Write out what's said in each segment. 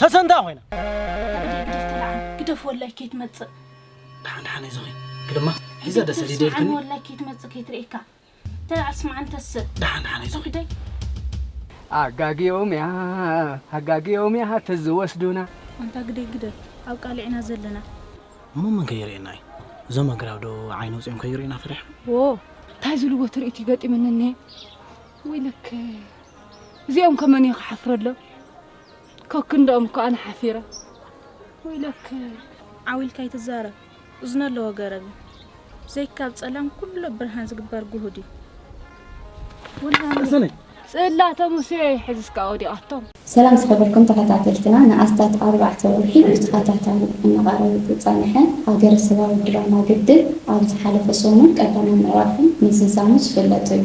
ሰሰንታ ኮይና ግደፍ ትልዓል ግደፍ ወላይ ከይትመፅእ ደሓን ደሓን ኣይዞኺ ግደማ ሒዘ ደሰ ሊደ ስምዓኒ ኢልክኒ ወላይ ከይትመፅእ ከይትርእየካ ተልዓል ስምዓኒ ተስእ ደሓን ደሓን ኣይዞኺ ግደይ ኣጋጊኦም እያ ኣጋጊኦም እያ ተዝወስዱና ኣንታ ግደይ ግደፍ ኣብ ቃልዕ ኢና ዘለና እሞ መን ከይርእየና እዩ እዞም ኣግራብ ዶ ዓይኒ ውፅኦም ከይርእዩና ፈሪሖም ዎ እንታይ ዝልዎ ትርኢት እዩ ገጢሙኒ እኒሀ ወይለከይ እዚኦም ከ መን እዩ ክሓፍረሎም ከክንደኦም እኮ ኣነ ሓፊረ ወይለከይ ዓው ኢልካ ኣይትዛረብ እዝኒ ኣለዎ ገረብ እዩ ዘይካብ ጸላም ኩሉ ብርሃን ዝግበር ጉሁድ እዩ ጽላተ ሙሴ ሕዝስካ ወዲቓቶም ሰላም ዝኸበርኩም ተኸታተልትና ንኣስታት ኣርባዕተ ወርሒ ብተኸታታሊ እናቐረበ ዝጸንሐ ሃገረሰባዊ ድራማ ግድብ ኣብ ዝሓለፈ ሰሙን ቀዳማይ ምዕራፉ ምዝዛሙ ዝፍለጥ እዩ።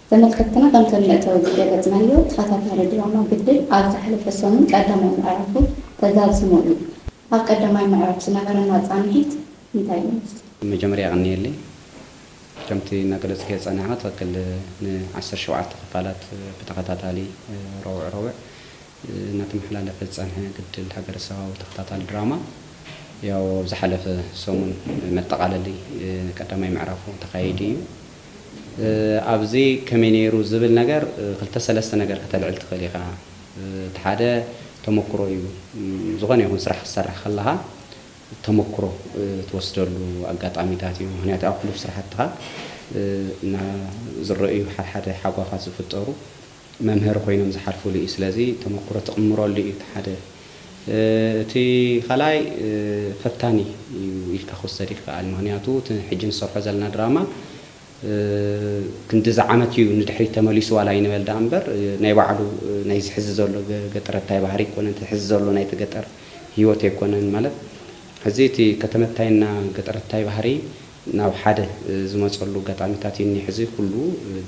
ተመልከትትና ከምቲ ኣብ መእተዊ ዝገለጽናዮ፣ ተኸታታሊ ድራማ ግድል ኣብ ዝሓለፈ ሰሙን ቀዳማይ ምዕራፉ ተዛዚሙ እዩ። ኣብ ቀዳማይ ምዕራፍ ዝነበረና ጻንሒት እንታይ ይመስል? ብመጀመርያ የቐንየለይ። ከምቲ እናገለጽክዮ ዝጸናሕኻ ትኽክል ን ዓሰርተ ሸውዓተ ክፋላት ብተኸታታሊ ረቡዕ ረቡዕ፣ እናተመሓላለፈ ዝፀንሐ ግድል ሃገረሰባዊ ተኸታታሊ ድራማ ያው ኣብ ዝሓለፈ ሰሙን መጠቓለሊ ቀዳማይ ምዕራፉ ተኻይዱ እዩ። ኣብዚ ከመይ ነይሩ ዝብል ነገር ክልተ ሰለስተ ነገር ከተልዕል ትኽእል ኢኻ። እቲ ሓደ ተሞክሮ እዩ። ዝኾነ ይኹን ስራሕ ክትሰርሕ ከለኻ ተሞክሮ ትወስደሉ ኣጋጣሚታት እዩ። ምክንያቱ ኣብ ሕሉፍ ስራሕትኻ ዝረኣዩ ሓድሓደ ሓጓፋት ዝፍጠሩ መምህር ኮይኖም ዝሓልፉሉ እዩ ስለዚ ተመኩሮ ትቅምረሉ እዩ እቲ ሓደ እቲ ካልኣይ ፈታኒ እዩ ኢልካ ክውሰድ ይክኣል ምክንያቱ እቲ ሕጂ ንሰርሖ ዘለና ድራማ ክንድዚ ዓመት እዩ ንድሕሪት ተመሊሱ ዋላ ኣይንበል ደኣ እምበር ናይ ባዕሉ ናይዚ ሕዚ ዘሎ ገጠረታይ ባህሪ ኣይኮነን እቲ ሕዚ ዘሎ ናይቲ ገጠር ሂወት ኣይኮነን ማለት ሕዚ እቲ ከተመታይና ገጠረታይ ባህሪ ናብ ሓደ ዝመጸሉ ኣጋጣሚታት እዩ እኒሀ። ሕዚ ኩሉ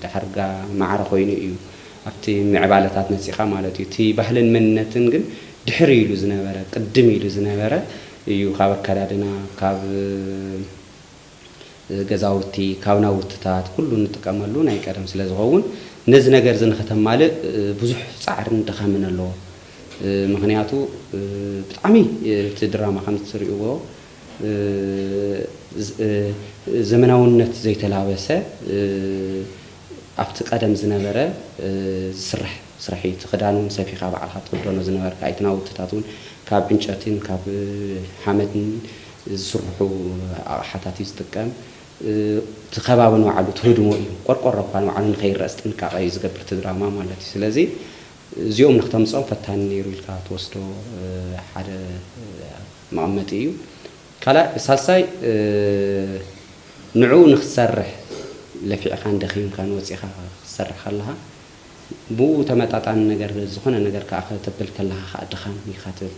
ዳሕርጋ ማዕረ ኮይኑ እዩ ኣብቲ ምዕባለታት መጺእካ ማለት እዩ። እቲ ባህልን መንነትን ግን ድሕር ኢሉ ዝነበረ ቅድም ኢሉ ዝነበረ እዩ ካብ ኣከዳድና ካብ ገዛውቲ ካብ ናውትታት ኩሉ እንጥቀመሉ ናይ ቀደም ስለ ዝኸውን ነዚ ነገር እዚ ንክተማልእ ብዙሕ ጻዕርን ድኻምን ኣለዎ። ምክንያቱ ብጣዕሚ እቲ ድራማ ከም እትሪእዎ ዘመናውነት ዘይተላበሰ ኣብቲ ቀደም ዝነበረ ዝስራሕ ስራሕ እዩ። እቲ ክዳን እውን ሰፊኻ ባዕልኻ ትኽደኖ ዝነበርካ እዩ። እቲ ናውትታት እውን ካብ ዕንጨትን ካብ ሓመድን ዝስርሑ ኣቕሓታት እዩ ዝጥቀም። እቲ ከባቢ ንባዕሉ ትህድሞ እዩ። ቆርቆሮ እኳ ንባዕሉ ንከይረኣስ ጥንቃቐ እዩ ዝገብር እቲ ድራማ ማለት እዩ። ስለዚ እዚኦም ንክተምጽኦም ፈታኒ ነይሩ ኢልካ ትወስዶ ሓደ መቐመጢ እዩ። ካልኣይ ሳልሳይ ንዕኡ ንክትሰርሕ ለፊዕካን ደኺምካን ወጺኻ ክትሰርሕ ከለኻ ብኡ ተመጣጣኒ ነገር ዝኾነ ነገር ክኣ ከተብል ከለኻ ክኣ ድኻም ኢኻ ትብል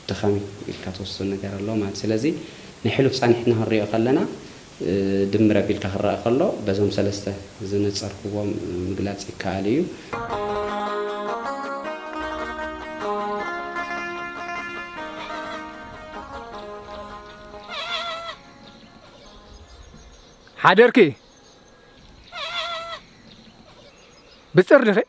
ድኻም ኢልካ ትወስዶ ነገር ኣሎ ማለት እዩ። ስለዚ ናይ ሕሉፍ ጻኒሕትና ክንሪኦ ከለና ድምር ኣቢልካ ክረኣ ከሎ በዞም ሰለስተ ዝነጸርኩዎም ምግላጽ ይከኣል እዩ። ሓደርኪ ብጽር ድኺ?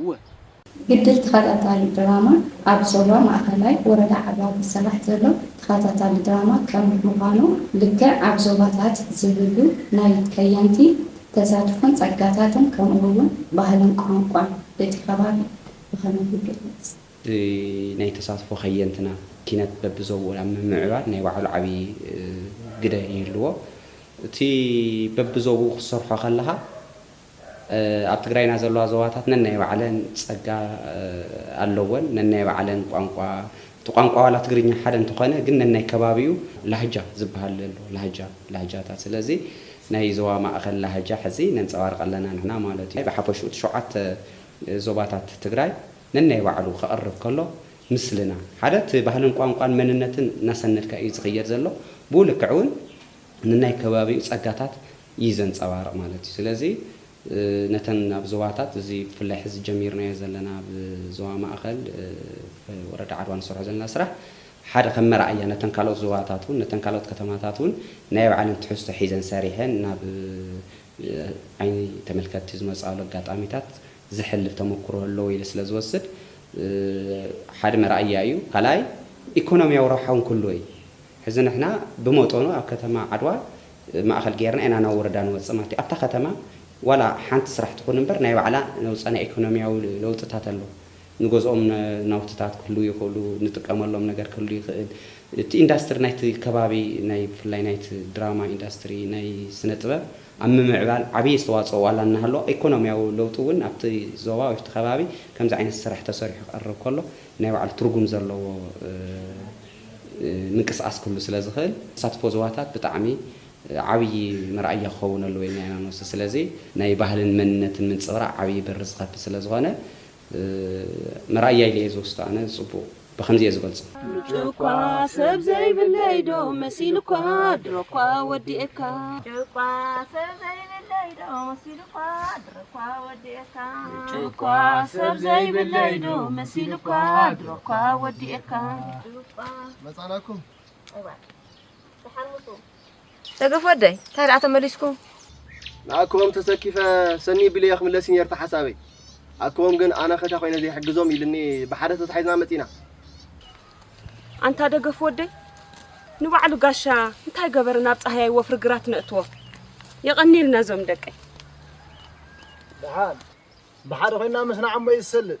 እወ። ግድል ተኸታታሊ ድራማ ኣብ ዞባ ማእኸላይ ወረዳ ዓድዋ ዝስራሕ ዘሎ ተኸታታሊ ድራማ ከም ምዃኑ ልክዕ ኣብ ዞባታት ዝህሉ ናይ ከየንቲ ተሳትፎን ፀጋታትን ከምኡ እውን ባህልን ቋንቋን እቲ ከባቢ ብኸመይ ይግለፅ? ናይ ተሳትፎ ከየንትና ኪነት በቢዞብኡ ናብ ምምዕባል ናይ ባዕሉ ዓብዪ ግደ ይህልዎ። እቲ በቢዞብኡ ክትሰርሖ ከለኻ ኣብ ትግራይና ዘለዋ ዞባታት ነናይ ባዕለን ፀጋ ኣለወን። ነናይ ባዕለን ቋንቋ፣ እቲ ቋንቋ ዋላ ትግርኛ ሓደ እንተኾነ ግን ነናይ ከባቢኡ ላህጃ ዝበሃል ኣለዎ። ላህጃ፣ ላህጃታት። ስለዚ ናይ ዞባ ማእኸል ላህጃ ሕዚ ነንፀባርቕ ኣለና ንሕና ማለት እዩ። ብሓፈሽኡ እቲ ሸውዓተ ዞባታት ትግራይ ነናይ ባዕሉ ከቕርብ ከሎ ምስልና ሓደ እቲ ባህልን ቋንቋን መንነትን እናሰነድካ እዩ ዝኽየድ ዘሎ። ብኡ ልክዕ እውን ነናይ ከባቢኡ ፀጋታት እዩ ዘንጸባርቕ ማለት እዩ። ስለዚ ነተን ኣብ ዞባታት እዚ ብፍላይ ሕዚ ጀሚርናዮ ዘለና ኣብ ዞባ ማእከል ወረዳ ዓድዋ ንሰርሖ ዘለና ስራሕ ሓደ ከም መርኣያ ነተን ካልኦት ዞባታት እውን ነተን ካልኦት ከተማታት እውን ናይ ባዕለን ትሕዝቶ ሒዘን ሰሪሐን ናብ ዓይኒ ተመልከትቲ ዝመጽኣሉ ኣጋጣሚታት ዘሕልፍ ተመኩሮ ኣለዎ ኢለ ስለ ዝወስድ ሓደ መርኣያ እዩ። ካልኣይ ኢኮኖሚያዊ ረብሓ እውን ክህልዎ እዩ። ሕዚ ንሕና ብመጠኑ ኣብ ከተማ ዓድዋ ማእኸል ገይርና ኢና ናብ ወረዳ ንወፅእ ማለት እዩ። ኣብታ ከተማ ዋላ ሓንቲ ስራሕ ትኹን እምበር ናይ ባዕላ ነውፃ ናይ ኢኮኖሚያዊ ለውጥታት ኣሎ። ንገዝኦም ናውትታት ክህልዉ ይኽእሉ፣ ንጥቀመሎም ነገር ክህሉ ይኽእል። እቲ ኢንዳስትሪ ናይቲ ከባቢ ናይ ብፍላይ ናይቲ ድራማ ኢንዳስትሪ ናይ ስነ ጥበብ ኣብ ምምዕባል ዓብይ ኣስተዋፅኦ ዋላ እናሃለዎ ኢኮኖሚያዊ ለውጢ እውን ኣብቲ ዞባ ወይ ኣብቲ ከባቢ ከምዚ ዓይነት ስራሕ ተሰሪሑ ክቐርብ ከሎ ናይ ባዕሉ ትርጉም ዘለዎ ምንቅስቃስ ክህሉ ስለ ዝኽእል ተሳትፎ ዞባታት ብጣዕሚ ዓብዪ መርኣያ ክኸውን ኣለዎ ኢልና ኢና ንወስድ። ስለዚ ናይ ባህልን መንነትን ምንፅብራቕ ዓብዪ በሪ ዝኸፍት ስለ ዝኾነ መርኣያ ኢለ እየ ዝወስዶ ኣነ ዝፅቡቕ ብኸምዚ እየ ዝገልፆ። ምጭውኳ ሰብ ዘይብለይ ዶ መሲሉኳ ድሮኳ ወዲኤካ። ምጭውኳ ሰብ ዘይብለይ ዶ መሲሉኳ። እኳ ወዲኤካ እኳ ሰብ ዘይብለይ ዶ መሲሉካ ድሮ እኳ ወዲኤካ መጻናኩም ደገፍ ወደይ እንታይ ደኣ ተመሊስኩም ንኣኮም ተሰኪፈ ሰኒ ቢለየ ክምለስ እዩ ነርታ ሓሳበይ ኣኮም ግን ኣነ ከታ ኮይነ ዘይሕግዞም ኢልኒ ብሓደ ተታሒዝና መፂና ኣንታ ደገፍ ወደይ ንባዕሉ ጋሻ እንታይ ገበረ ናብ ጻህያይ ወፍሪ ግራት ነእትዎ የቐኒልና ዞም ደቀይ ደሓን ብሓደ ኮይና ምስ ንዓሞ እዩ ዝሰልጥ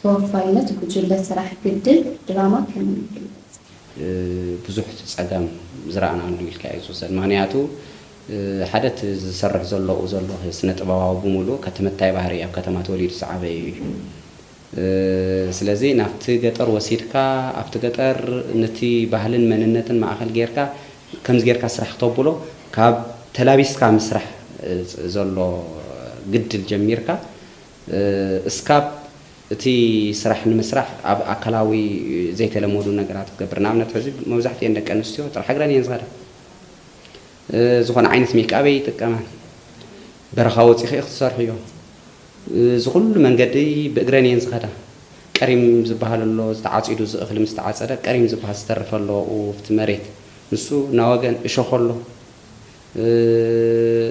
ተወፋይነት ጉጅለ ስራሕ ግድብ ድራማ ከመይ ይግለጽ? ብዙሕ ጸገም ዝረኣናሉ ኢልካ እዩ ዝውሰድ። ምኽንያቱ ሓደ እቲ ዝሰርሕ ዘሎኡ ዘሎ ስነ ጥበባዊ ብምሉኡ ከትምታይ ባህሪ ኣብ ከተማ ተወሊዱ ዝዓበዩ እዩ። ስለዚ ናብቲ ገጠር ወሲድካ ኣብቲ ገጠር ነቲ ባህልን መንነትን ማእኸል ጌርካ ከምዚ ጌርካ ስራሕ ክተብሎ ካብ ተላቢስካ ምስራሕ ዘሎ ግድል ጀሚርካ እስካብ እቲ ስራሕ ንምስራሕ ኣብ ኣካላዊ ዘይተለመዱ ነገራት ክገብር ንኣብነት ሕዚ መብዛሕቲኤን ደቂ ኣንስትዮ ጥራሕ እግረን እየን ዝኸዳ ዝኾነ ዓይነት ሜክኣብ ኣይጥቀማን በረኻ ወፂኺ ክትሰርሕዮ እዚ ኩሉ መንገዲ ብእግረን እየን ዝኸዳ ቀሪም ዝበሃል ኣሎ ዝተዓፂዱ እዚ እኽሊ ምስ ተዓፀደ ቀሪም ዝበሃል ዝተርፍ ኣሎ ኣብቲ መሬት ንሱ ናወገን እሾኽ ኣሎ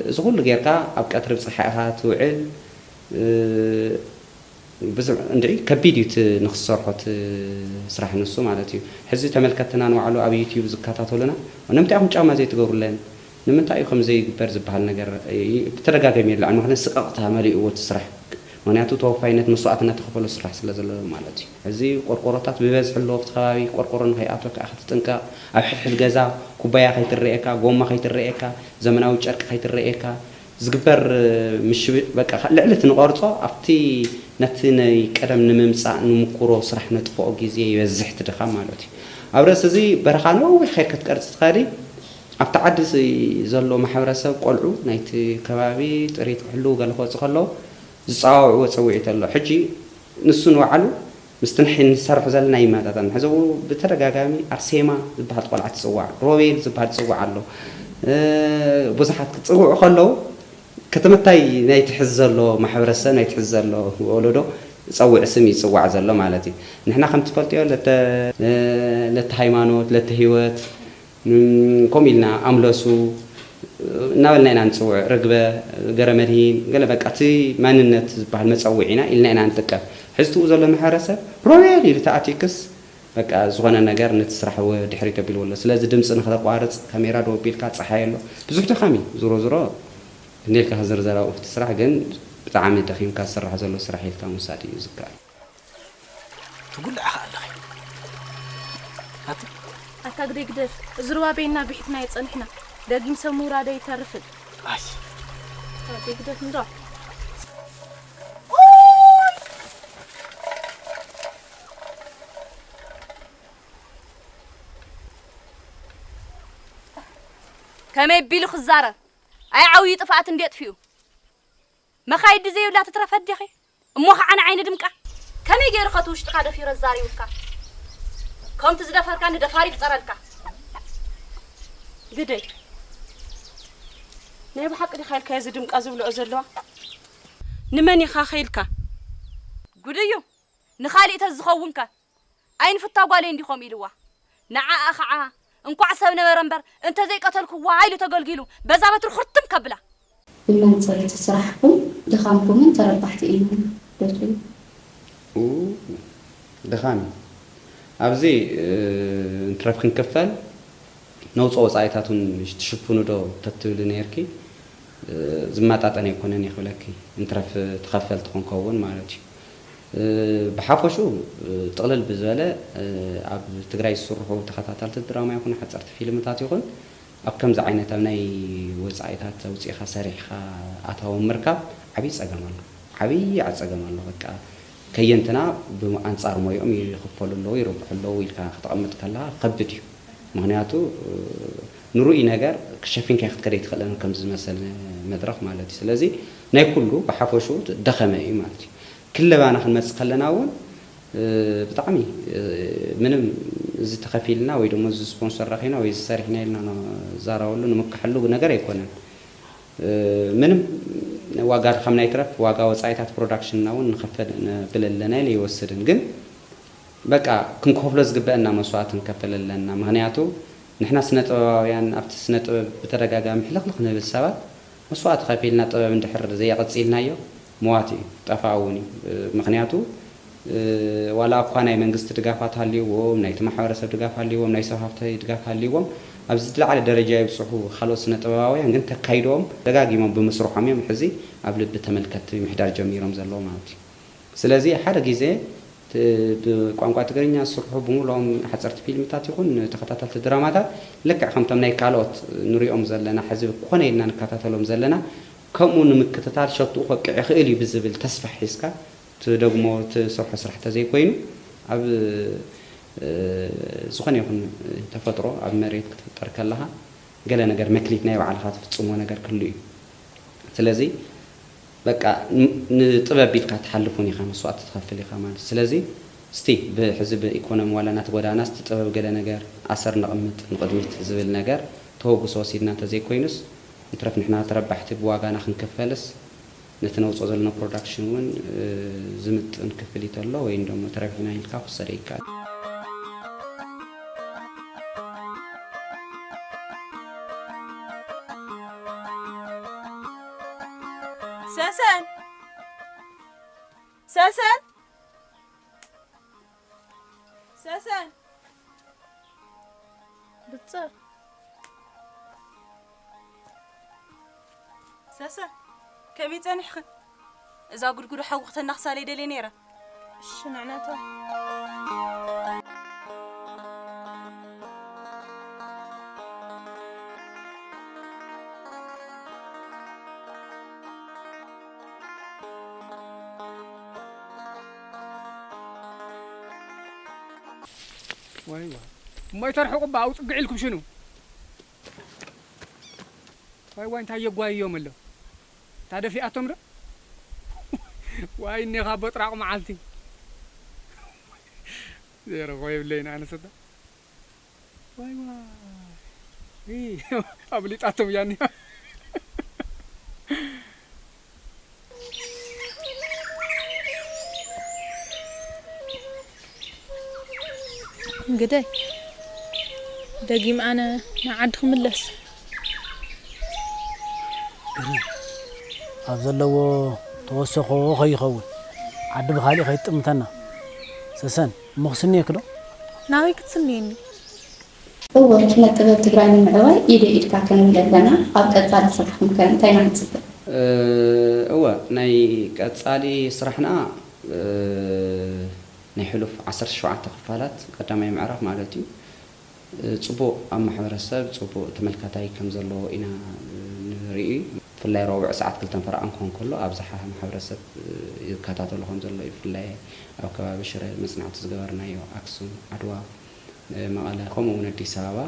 እዚ ኩሉ ጌርካ ኣብ ቀትሪ ብጽሓይ ኢኻ ትውዕል ብዝሕ እንድዒ ከቢድ እዩ እቲ ንኽትሰርሖ እቲ ስራሕ ንሱ ማለት እዩ ሕዚ ተመልከትትና ንባዕሉ ኣብ ዩቱብ ዝከታተሉና ንምንታይ ኢኹም ጫማ ዘይትገብሩለን ንምንታይ እዩ ከምዚ ዘይግበር ዝብሃል ነገር ብተደጋገሚ የለዕል ምኽንያቱ ስቅቕታ መሊእዎ እቲ ስራሕ ምኽንያቱ ተወፋይነት መስዋእትነት ተኸፈሎ ስራሕ ስለ ዘሎ ማለት እዩ። እዚ ቆርቆሮታት ብበዝሒ ኣለዎ ኣብቲ ከባቢ ቆርቆሮ ንከይኣትወካ ክትጥንቀቕ ኣብ ሕድሕድ ገዛ ኩባያ ከይትረኤካ ጎማ ከይትረኤካ ዘመናዊ ጨርቂ ከይትረኤካ ዝግበር ምሽብሽ በቃ ልዕሊ እቲ ንቐርጾ ኣብቲ ነቲ ናይ ቀደም ንምምጻእ ንሙኩሮ ስራሕ ነጥፍኦ ግዜ ይበዝሕ እቲ ድኻም ማለት እዩ። ኣብ ርእሲ እዚ በረኻ ነዊሕ ከይድካ ክትቀርጽ ትኸእሊ ኣብቲ ዓዲ እዚ ዘሎ ማሕበረሰብ ቆልዑ ናይቲ ከባቢ ጥሪት ክሕልዉ ገለ ክወጽኡ ከለዉ ዝጸዋውዕዎ ጸውዒት ኣሎ። ሕጂ ንሱ ንባዕሉ ምስቲ ንሕይ ንሰርሖ ዘለና ኣይመጣጠንን። ሕዚ እው ብተደጋጋሚ ኣርሴማ ዝበሃል ቆልዓ ትጽዋዕ፣ ሮቤል ዝበሃል ዝጽዋዕ ኣሎ። ብዙሓት ክጽውዑ ከለዉ ክትምታይ ናይቲ ሕዚ ዘሎ ማሕበረሰብ ናይቲ ሕዚ ዘሎ ወለዶ ጸውዒ ስም እዩ ዝጽዋዕ ዘሎ ማለት እዩ። ንሕና ከም ትፈልጥዮ ለተ ለተ ሃይማኖት ለተ ህይወት ከምኡ ኢልና ኣምለሱ እናበልና ኢና ንፅውዕ፣ ርግበ፣ ገረመድሂን ገለ በቃ እቲ መንነት ዝበሃል መፀውዒና ኢልና ኢና ንጥቀም። ሕዚ ትኡ ዘሎ ማሕበረሰብ ሮቤል ኢሉ ተኣትዩክስ በቃ ዝኾነ ነገር ነቲ ስራሕ ወድሕሪት ኣቢልዎ ኣሎ። ስለዚ ድምፂ ንክተቋርፅ ካሜራ ደው ኣቢልካ ፀሓይ ኣሎ ብዙሕ ድኻም እዩ። ዙሮ ዙሮ ክንደይ ኢልካ ክዝርዘር ኣብኡ እቲ ስራሕ ግን ብጣዕሚ ደኺምካ ዝስራሕ ዘሎ ስራሕ ኢልካ ምውሳድ እዩ ዝከኣል። ትጉልዒ ከኣ ኣለኺ ኣቲ። ኣታ ግደይ ግደፍ እዚ ሩባ በይንና ቢሒትናዮ ጸኒሕና ደጊም ሰብ ምውራዱ ኣይተርፍን። ኣይ። ኣታ ኣደይ ግደፍ እንዶ። ከመይ ቢሉ ክዛረብ ኣይ ዓውዩ ጥፍኣት እንዴ ኣጥፊኡ መኻይዲ ዘይብላ ትትረፍ ኣዴኺ። እሞ ኸዓ ንዓይ ንድምቃ? ከመይ ገይሩ ኸ እቲ ውሽጥካ ደፊሩ ኣዛሪቡካ? ከምቲ ዝደፈርካኒ ደፋር ይፍጠረልካ። ግደይ ናይ ብሓቂ ዲኻ ኢልካዮ እዚ ድምቃ ዝብልኦ ዘለዋ? ንመን ኢኻ ከ ኢልካ? ጉድ እዩ ንኻሊእ ተዝኸውን ከ? ኣይንፍታ ጓለይ እንዲኹም ኢልዋ። ንዓኣ ኸዓ እንኳዕ ሰብ ነበረ እምበር እንተዘይቀተልክዋ ኢሉ ተገልጊሉ በዛ በትሩ ኹርትም ከብላ። ንመን ፅርት ስራሕኩም ድኻምኩምን ተረባሕቲ ኢና ዶ ትብሉ። ኡይ ድኻም እዩ ኣብዚ እንትረፍ ክንክፈል ነውፆ ወፃኢታት ውን ትሽፍኑ ዶ ተትብሊ ነይርኪ ዝመጣጠን ኣይኮነን እየ ክብለኪ እንትረፍ ተኸፈልቲ ክንከውን ማለት እዩ ብሓፈሽኡ ጥቕልል ብዝበለ ኣብ ትግራይ ዝስርሑ ተኸታታልቲ ድራማ ይኹን ሓፀርቲ ፊልምታት ይኹን ኣብ ከምዚ ዓይነት ኣብ ናይ ወፃኢታት ኣውፂእኻ ሰሪሕኻ ኣታዊ ምርካብ ዓብይ ፀገም ኣሎ። ዓብይ ፀገም ኣሎ። በቃ ከየንትና ብኣንፃር ሞይኦም ይኽፈሉ ኣለው ይርብሑ ኣለው ኢልካ ክተቐምጥ ከለኻ ክኸብድ እዩ። ምኽንያቱ ንርኡይ ነገር ሸፊንካዮ ክትከድ ኣይትኽእልን ከምዚ ዝመሰለ መድረኽ ማለት እዩ። ስለዚ ናይ ኩሉ ብሓፈሽኡ ደኸመ እዩ ማለት እዩ። ክለባና ክንመጽእ ከለና እውን ብጣዕሚ ምንም እዚ ተኸፊልና ወይ ደሞ እዚ ስፖንሰር ረኺብና ወይ እዚ ሰሪሕና ኢልና ንዛረበሉ ንምከሐሉ ነገር ኣይኮነን። ምንም ዋጋ ድኻምና ይትረፍ ዋጋ ወጻኢታት ፕሮዳክሽንና እውን ንኸፈል ነብል ኣለና ኢለ ይወስድን ግን በቃ ክንከፍሎ ዝግበእና መስዋእቲ ንከፍል ኣለና ምክንያቱ ንሕና ስነ ጥበባውያን ኣብቲ ስነ ጥበብ ብተደጋጋሚ ሕልኽልኽ ንብል ሰባት መስዋእቲ ከፊልና ጥበብ እንድሕር ዘየቐጺልናዮ መዋቲ እዩ፣ ጠፋኢ እውን እዩ። ምኽንያቱ ዋላ እኳ ናይ መንግስቲ ድጋፋት ሃልዩዎም፣ ናይቲ ማሕበረሰብ ድጋፍ ሃልዩዎም፣ ናይ ሰብ ሃፍቲ ድጋፍ ሃልዩዎም ኣብ ዝለዓለ ደረጃ ይብጽሑ፣ ካልኦት ስነ ጥበባውያን ግን ተካይዶኦም ደጋጊሞም ብምስርሖም እዮም ሕዚ ኣብ ልቢ ተመልከትቲ ምሕዳር ጀሚሮም ዘለዉ ማለት እዩ። ስለዚ ሓደ ግዜ ብቋንቋ ትግርኛ ዝስርሑ ብምሉኦም ሓጸርቲ ፊልምታት ይኹን ተኸታተልቲ ድራማታት ልክዕ ከምቶም ናይ ካልኦት ንሪኦም ዘለና ሕዚ ኮነ ኢልና ንከታተሎም ዘለና ከምኡ ንምክትታል ሸትኡ ከብቅዕ ይኽእል እዩ ብዝብል ተስፋ ሒዝካ ትደግሞ ትሰርሖ ስራሕ ተዘይኮይኑ ኣብ ዝኾነ ይኹን ተፈጥሮ ኣብ መሬት ክትፍጠር ከለኻ ገለ ነገር መክሊት ናይ ባዕልኻ ትፍጽሞ ነገር ክህሉ እዩ ስለዚ በቃ ንጥበብ ቢልካ ትሓልፍውን ኢኻ መስዋእቲ ትኸፍል ኢኻ ማለት ስለዚ እስቲ ብ ሕዚ ብ ኢኮኖሚ ዋላ ናተጎዳእና እስቲ ጥበብ ገለ ነገር ኣሰር ነቕምጥ ንቕድሚት ዝብል ነገር ተወግሶ ወሲድና እንተዘይኮይኑስ ይትረፍ ንሕና ተረባሕቲ ብዋጋና ክንክፈልስ ነቲ ነውጾ ዘሎና ፕሮዳክሽን ውን ዝምጥን ክፍሊት ኣሎ ወይ እንዶሞ ተረቢሕና ኢልካ ክውሰደ ይካል። ሰሰን ሰሰን ሰሰን ብፅር ሰሰን ከመይ ፀኒሕኽን እዛ ጉድጉዶ ሓዊ ክተናኽሳለይ ደልየ ነይረ ዋይ ዋይ እሞ ይተርሕቁ እባ ኣውፅግዕ ኢልኩም ሽኑ ዋይ ዋይ እንታይ የጓይዮም ኣለዉ እታ ደፊኣቶም ዶ ዋይ እኔኻ ቦጥራቕ መዓልቲ ዘይረኽቦ የብለይን ኣነስ እታ ዋይ ዋይ ኣብሊጣቶም እያ እኒኣ ግደይ ደጊም ኣነ ናብ ዓዲ ክምለስ። ግርም ኣብ ዘለዎ ተወሰኾ ከይኸውን ዓዲ ብኻሊእ ከይትጥምተና። ሰሰን እሞ ክስንየኪ ዶ? ናበይ ክትስንየኒ? እወ ስነ ጥበብ ትግራይ ንምዕባይ ኢደይ ኢድካ ክንብል ኣለና ኣብ ቀፃሊ ስራሕኩም ከ እንታይ ኢና ክንፅበ? እወ ናይ ቀፃሊ ስራሕና ናይ ሕሉፍ ዓሰርተ ሸውዓተ ክፋላት ቀዳማይ ምዕራፍ ማለት እዩ ፅቡቕ ኣብ ማሕበረሰብ ፅቡቕ ተመልካታይ ከም ዘለዎ ኢና ንርኢ። ብፍላይ ረቡዕ ሰዓት ክልተን ፈረቓን ክኾን ከሎ ኣብዝሓ ማሕበረሰብ ይከታተሎ ከም ዘሎ እዩ። ብፍላይ ኣብ ከባቢ ሽረ መፅናዕቲ ዝገበርናዮ ኣክሱም፣ ዓድዋ፣ መቐለ ከምኡ እውን ኣዲስ ኣበባ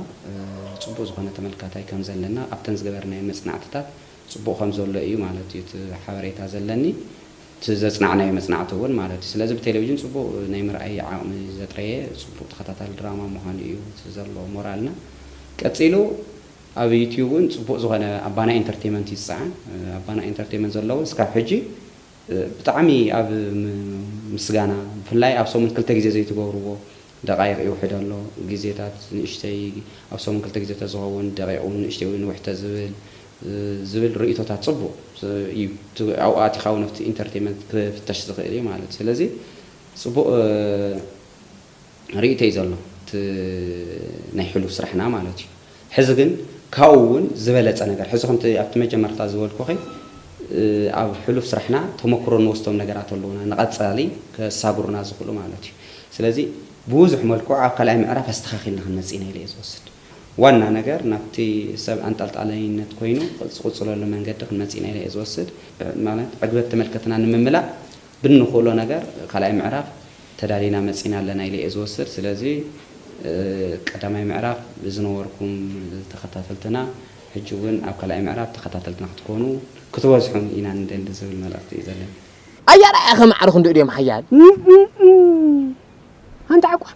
ፅቡቕ ዝኾነ ተመልካታይ ከም ዘለና ኣብተን ዝገበርናየን መፅናዕትታት ፅቡቕ ከም ዘሎ እዩ ማለት እዩ እቲ ሓበሬታ ዘለኒ። እቲ ዘጽናዕናዮ መጽናዕቲ እውን ማለት እዩ። ስለዚ ብቴሌቪዥን ጽቡቕ ናይ ምርኣይ ዓቕሚ ዘጥረየ ጽቡቕ ተኸታታሊ ድራማ ምዃኑ እዩ እቲ ዘሎ ሞራልና። ቀጺሉ ኣብ ዩትዩብ እውን ጽቡቕ ዝኾነ ኣባና ኢንተርቴመንት እዩ ዝጸዓን። ኣባና ኢንተርቴመንት ዘሎ እውን እስካብ ሕጂ ብጣዕሚ ኣብ ምስጋና ብፍላይ ኣብ ሰሙን ክልተ ግዜ ዘይትገብርዎ ደቓይቕ ይውሕድ ኣሎ፣ ግዜታት ንእሽተይ፣ ኣብ ሰሙን ክልተ ግዜ ተዝኸውን፣ ደቒቕ እውን ንእሽተይ ወይ ንውሕ ተዝብል ዝብል ርእይቶታት ጽቡቕ እዩ። እቲ ኣብኡ ኣቲኻ እውን ኣብቲ ኢንተርቴመንት ክፍተሽ ዝኽእል እዩ ማለት እዩ። ስለዚ ጽቡቕ ርእይቶ እዩ ዘሎ፣ እቲ ናይ ሕሉፍ ስራሕና ማለት እዩ። ሕዚ ግን ካብኡ እውን ዝበለፀ ነገር ሕዚ ከምቲ ኣብቲ መጀመርታ ዝበልኩኺ ኣብ ሕሉፍ ስራሕና ተሞክሮ እንወስዶም ነገራት ኣለዉና ንቐፃሊ ከሳግሩና ዝኽእሉ ማለት እዩ። ስለዚ ብብዙሕ መልክዑ ኣብ ካልኣይ ምዕራፍ ኣስተኻኺልና ክንመፅእ ኢና ኢለ እየ ዝወስድ። ዋና ነገር ናብቲ ሰብ ኣንጠልጣላይነት ኮይኑ ዝቕፅለሉ መንገዲ ክንመፅእ ኢና ኢለ እየ ዝወስድ። ማለት ዕግበት ተመልከትና ንምምላእ ብንኽእሎ ነገር ካልኣይ ምዕራፍ ተዳሊና መፂና ኣለና ኢለ እየ ዝወስድ። ስለዚ ቀዳማይ ምዕራፍ ዝነበርኩም ተኸታተልትና ሕጂ እውን ኣብ ካልኣይ ምዕራፍ ተኸታተልትና ክትኮኑ ክትበዝሑን ኢና ንደሊ ዝብል መልእኽቲ እዩ ዘለኒ። ኣያራያ ከማዕርኹ እንድኡ ድዮም ሓያል። እም እም እም ሓንቲ ዓቋር።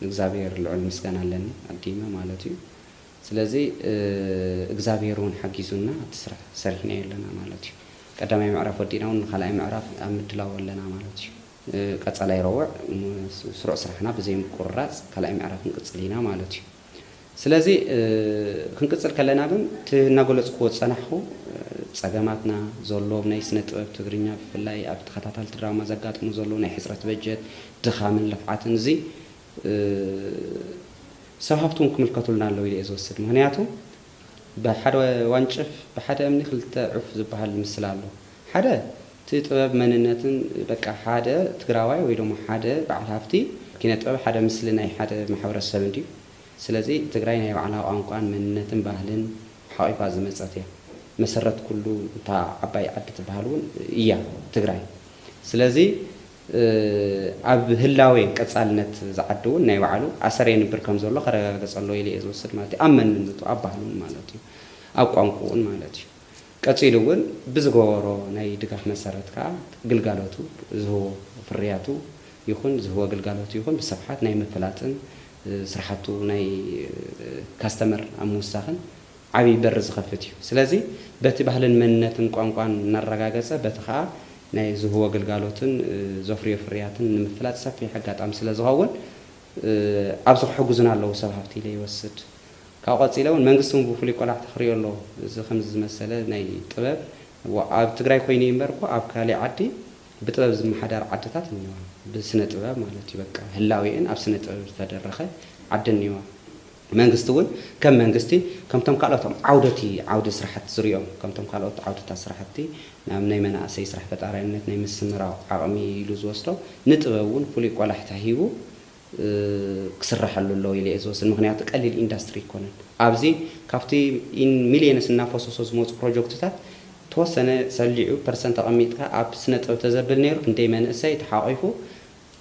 ንእግዛብሄር ልዑል ምስጋና ኣለኒ ኣዲመ ማለት እዩ ስለዚ እግዛብሄር ውን ሓጊዙና ኣብቲ ስራሕ ሰሪሕናዮ ኣለና ማለት እዩ ቀዳማይ ምዕራፍ ወዲእና ውን ንካልኣይ ምዕራፍ ኣብ ምድላው ኣለና ማለት እዩ ቀፃላይ ረወዕ ስሩዕ ስራሕና ብዘይ ምቁርራፅ ካልኣይ ምዕራፍ ክንቅፅል ኢና ማለት እዩ ስለዚ ክንቅጽል ከለና ግን እቲ እናገለጽኩዎ ዝጸናሕኩ ጸገማትና፣ ዘሎ ናይ ስነ ጥበብ ትግርኛ ብፍላይ ኣብ ተኸታታልቲ ድራማ ዘጋጥሙ ዘለዉ ናይ ሕጽረት በጀት፣ ድኻምን ልፍዓትን እዚ ሰብ ሃብቲ እውን ክምልከቱልና ኣለዉ ኢለ እየ ዝወስድ። ምኽንያቱ ብሓደ ዋንጭፍ ብሓደ እምኒ ክልተ ዑፍ ዝበሃል ምስላ ኣሎ። ሓደ እቲ ጥበብ መንነትን በቃ ሓደ ትግራዋይ ወይ ደሞ ሓደ በዓል ሃፍቲ ኪነ ጥበብ ሓደ ምስሊ ናይ ሓደ ማሕበረሰብ እንድዩ። ስለዚ ትግራይ ናይ ባዕላ ቋንቋን መንነትን ባህልን ሓቒፋ ዝመጸት እያ። መሰረት ኩሉ እታ ዓባይ ዓዲ ትበሃል እውን እያ ትግራይ። ስለዚ ኣብ ህላዌ ቀጻልነት እዚ ዓዲ እውን ናይ ባዕሉ ኣሰር የንብር ከም ዘሎ ከረጋገጽ ኣለዎ ኢለ እየ ዝወስድ ማለት እዩ። ኣብ መንነቱ፣ ኣብ ባህሉን ማለት እዩ። ኣብ ቋንቁኡን ማለት እዩ። ቀጺሉ እውን ብዝገበሮ ናይ ድጋፍ መሰረት ከኣ ግልጋሎቱ ዝህቦ ፍርያቱ ይኹን ዝህቦ ግልጋሎቱ ይኹን ብስፍሓት ናይ ምፍላጥን ስራሕቱ ናይ ካስተመር ኣብ ምውሳኽን ዓብይ በሪ ዝኸፍት እዩ። ስለዚ በቲ ባህልን መንነትን ቋንቋን እናረጋገፀ በቲ ከዓ ናይ ዝህቦ ግልጋሎትን ዘፍርዮ ፍርያትን ንምፍላጥ ሰፊሕ ኣጋጣሚ ስለዝኸውን ኣብዚ ክሕግዙና ኣለዉ ሰብ ሃፍቲ ኢለ ይወስድ። ካብኡ ቀፂለ እውን መንግስቲ እውን ብፍሉይ ቆላሕታ ክሪኦ ኣለዎ። እዚ ከምዚ ዝመሰለ ናይ ጥበብ ኣብ ትግራይ ኮይኑ እዩ እምበር እኮ ኣብ ካሊእ ዓዲ ብጥበብ ዝመሓዳር ዓድታት እኒዋ ብስነ ጥበብ ማለት እዩ በቃ ህላዌኤን ኣብ ስነ ጥበብ ዝተደረኸ ዓዲ እኒዋ መንግስቲ እውን ከም መንግስቲ ከምቶም ካልኦት ዓውደቲ ዓውዲ ስራሕቲ ዝሪኦም ከምቶም ካልኦት ዓውድታት ስራሕቲ ናብ ናይ መናእሰይ ስራሕ ፈጣራይነት ናይ ምስምራው ዓቕሚ ኢሉ ዝወስዶ ንጥበብ እውን ፍሉይ ቆላሕታ ሂቡ ክስረሐሉ ኣለዎ ኢለ እየ ዝወስድ ምክንያቱ ቀሊል ኢንዳስትሪ ኣይኮነን ኣብዚ ካብቲ ኢን ሚልየንስ እናፈሶሶ ዝመፁ ፕሮጆክትታት ተወሰነ ሰሊዑ ፐርሰንት ኣቀሚጥካ ኣብ ስነጥበብ ተዘብል ነይሩ ክንደይ መንእሰይ ተሓቂፉ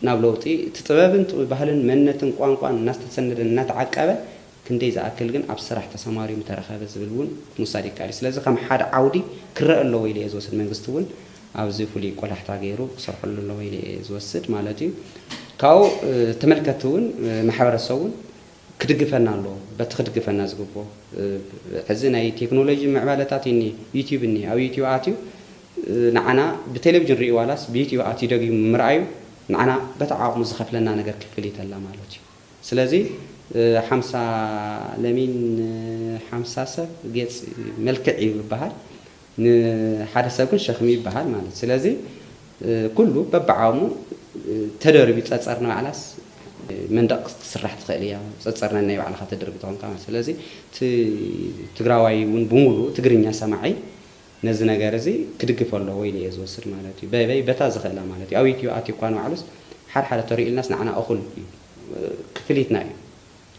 ናብ ለውጢ እቲ ጥበብን ባህልን መንነትን ቋንቋን እናስተሰነደ እናተዓቀበ ክንደይ ዝኣክል ግን ኣብ ስራሕ ተሰማርዩ ምተረኸበ ዝብል እውን ምውሳድ ይከኣል እዩ። ስለዚ ከም ሓደ ዓውዲ ክረኣ ኣለዎ ኢለ እየ ዝወስድ። መንግስቲ እውን ኣብዚ ፍሉይ ቆላሕታ ገይሩ ክሰርሐሉ ኣለዎ ኢለ እየ ዝወስድ ማለት እዩ። ካብኡ ተመልከትቲ እውን ማሕበረሰብ እውን ክድግፈና ኣለዎ። በቲ ክድግፈና ዝግብኦ ሕዚ ናይ ቴክኖሎጂ ምዕባለታት እዩ እኒሀ። ዩትዩብ እኒሀ። ኣብ ዩትዩብ ኣትዩ ንዓና ብቴሌቭዥን ርእዩ ዋላስ ብዩትዩብ ኣትዩ ደጊሙ ምርኣዩ ንዓና በቲ ዓቕሙ ዝኸፍለና ነገር ክፍሊት ኣላ ማለት እዩ። ስለዚ ሓምሳ ለሚን ን ሓምሳ ሰብ ጌጽ መልክዕ እዩ ይበሃል ን ሓደ ሰብ ግን ሸክሚ ይበሃል ማለት ስለዚ ኩሉ በብዓቕሙ ተደርብዩ ጸጸር ንባዕላስ መንደቕ ክትስራሕ ትኽእል እያ ጸጸር ነናይ ባዕልኻ ተድርቢ ተኾንካ ማለት ስለዚ እቲ ትግራዋይ ውን ብሙሉኡ ትግርኛ ሰማዒ ነዚ ነገር እዚ ክድግፎ ኣለዎ ኢለ ኢየ ዝወስድ ማለት እዩ። በበይ በታ ዝኽእላ ማለት እዩ። ኣብ ዩቱብ ኣትዩ እኳ ንባዕሉስ ሓደ ሓደ ተርእዩልናስ ንዓና እኹል እዩ። ክፍሊትና እዩ።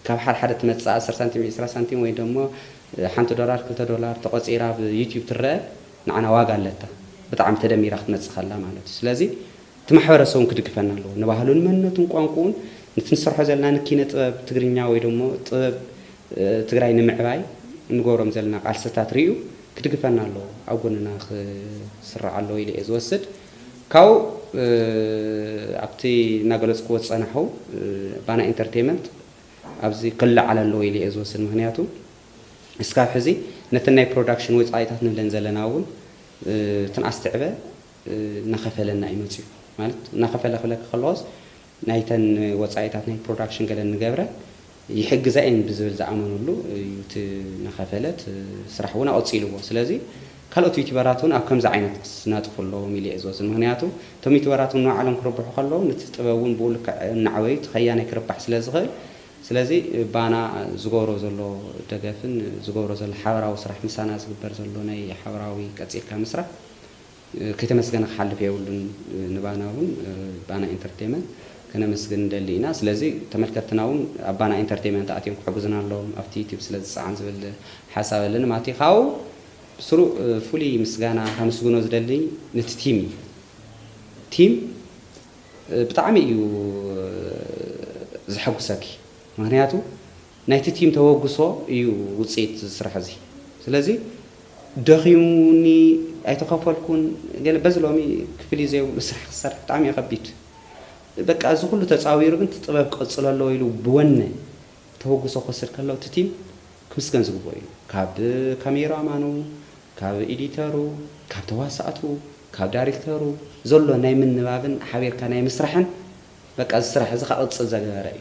ካብ ሓደ ሓደ ትመጽእ ኣስር ሳንቲም ዕስራ ሳንቲም ወይ ደሞ ሓንቲ ዶላር ክልተ ዶላር ተቖጺራ ኣብ ዩቱብ ትረኣ ንዓና ዋጋ ኣለታ። ብጣዕሚ ተደሚራ ክትመጽእ ከላ ማለት እዩ። ስለዚ እቲ ማሕበረሰብ እውን ክድግፈና ኣለዎ። ንባህሉን መንነቱን ቋንቁኡን ንቲ ንሰርሖ ዘለና ንኪነ ጥበብ ትግርኛ ወይ ደሞ ጥበብ ትግራይ ንምዕባይ እንገብሮም ዘለና ቃልስታት ሪኡ ክድግፈና ኣለዎ ኣብ ጎንና ክስራዕ ኣለዎ ኢለ እየ ዝወስድ ካብኡ ኣብቲ እናገለፅክዎ ዝፀናሑ ባና ኢንተርቴመንት ኣብዚ ክለዓል ኣለዎ ኢለ እየ ዝወስድ ምክንያቱ እስካብ ሕዚ ነተን ናይ ፕሮዳክሽን ወፃኢታት ንብለን ዘለና እውን ትንኣስ ትዕበ እናከፈለና እዩ መፂኡ ማለት እናከፈለ ክብለኪ ከለኩስ ናይተን ወጻኢታት ናይ ፕሮዳክሽን ገለ ንገብረን ይሕግዛ እየን ብዝብል ዝኣመንሉ እዩ እቲ ናኸፈለት ስራሕ እውን ኣቐጺልዎ ስለዚ ካልኦት ዩቲበራት እውን ኣብ ከምዚ ዓይነት ክስናጥፉ ኣለዎም ኢለ እየ ዝወስድ ምኽንያቱ እቶም ዩቲበራት እውን ንባዕሎም ክርብሑ ከለዉ ንቲ ጥበብ እውን ብኡ ልክዕ እናዕበዩ እቲ ከያናይ ክርባሕ ስለ ዝኽእል ስለዚ ባና ዝገብሮ ዘሎ ደገፍን ዝገብሮ ዘሎ ሓበራዊ ስራሕ ምሳና ዝግበር ዘሎ ናይ ሓበራዊ ቀጺልካ ምስራሕ ከይተመስገነ ክሓልፍ የብሉን ንባና ውን ባና ኢንተርቴመንት ከነመስግን ንደሊ ኢና ስለዚ ተመልከትትና ውን ኣብ ባና ኢንተርቴመንት ኣትዮም ክሕጉዝና ኣለዎም ኣብቲ ዩቱብ ስለ ዝጸዓን ዝብል ሓሳብ ኣለኒ ማቲ ካብኡ ብስሩ ፍሉይ ምስጋና ከምስግኖ ዝደሊ ነቲ ቲም እዩ ቲም ብጣዕሚ እዩ ዘሐጉሰኪ ምክንያቱ ናይቲ ቲም ተበግሶ እዩ ውፅኢት እዚ ስራሕ እዚ ስለዚ ደኺሙኒ ኣይተኸፈልኩን ገለ በዚ ሎሚ ክፍሊት ዘይብሉ ስራሕ ክትሰርሕ ብጣዕሚ እዩ ከቢድ በቃ እዚ ኩሉ ተፃዊሩ ግን እቲ ጥበብ ክቕፅል ኣለዎ ኢሉ ብወነ ተበግሶ ክወስድ ከሎ እቲ ቲም ክምስገን ዝግበኦ እዩ ካብ ካሜራ ማኑ ካብ ኤዲተሩ ካብ ተዋሳእቱ ካብ ዳሪክተሩ ዘሎ ናይ ምንባብን ሓቢርካ ናይ ምስራሕን በቃ እዚ ስራሕ እዚ ከቕፅል ዘገበረ እዩ።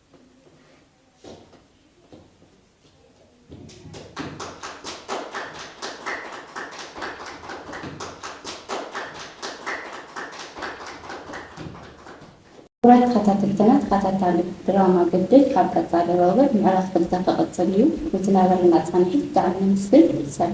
ክቡራት ተኸታተልትና ተኸታታሊ ድራማ ግድል ካብ ቀፃሊ ሮብዕ ምዕራፍ ክልተ ክቕፅል እዩ። ንዝነበረና ፃንሒት ብጣዕሚ ነመስግን። ሰላም።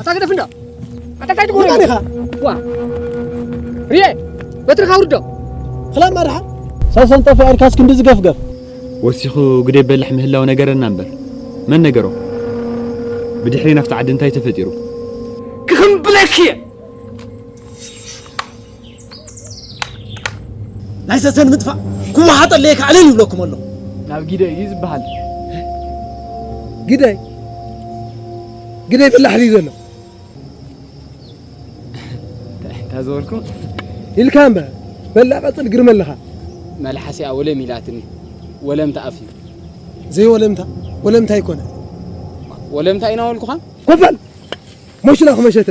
ኣታ ግደፍ እንዳ ኣታ ካይት ጎረ ኢኻ ዋ ሪየ በትርኻ ውርዶ ክላም ማርሓ ሰሰን ጠፊ ኣርካስ ክንዲ ዝገፍገፍ ወሲኹ ግደ በልሕ ምህላው ነገረና እምበር መን ነገሮ ብድሕሪ ናብቲ ዓዲ እንታይ ተፈጢሩ ክኽምብለኪ እየ ናይ ሰሰን ምጥፋእ ክወሓጠለየ ከዓ ዕልል ይብለኩም ኣሎ ናብ ጊደ እዩ ዝበሃል ግደይ ግደይ በላሕ ድዩ ዘሎ እንታይ ዝበልኩም ኢልካ እምበር በላ ቀፅል ግርመ ኣለኻ መልሓሲኣ ወለም ኢላትኒ ወለምታ ኣፍ እዩ ዘይወለምታ ወለምታ ይኮነ ወለምታ ኢና ወልኩኻ ኮፈል ሞሽና ክመሸተ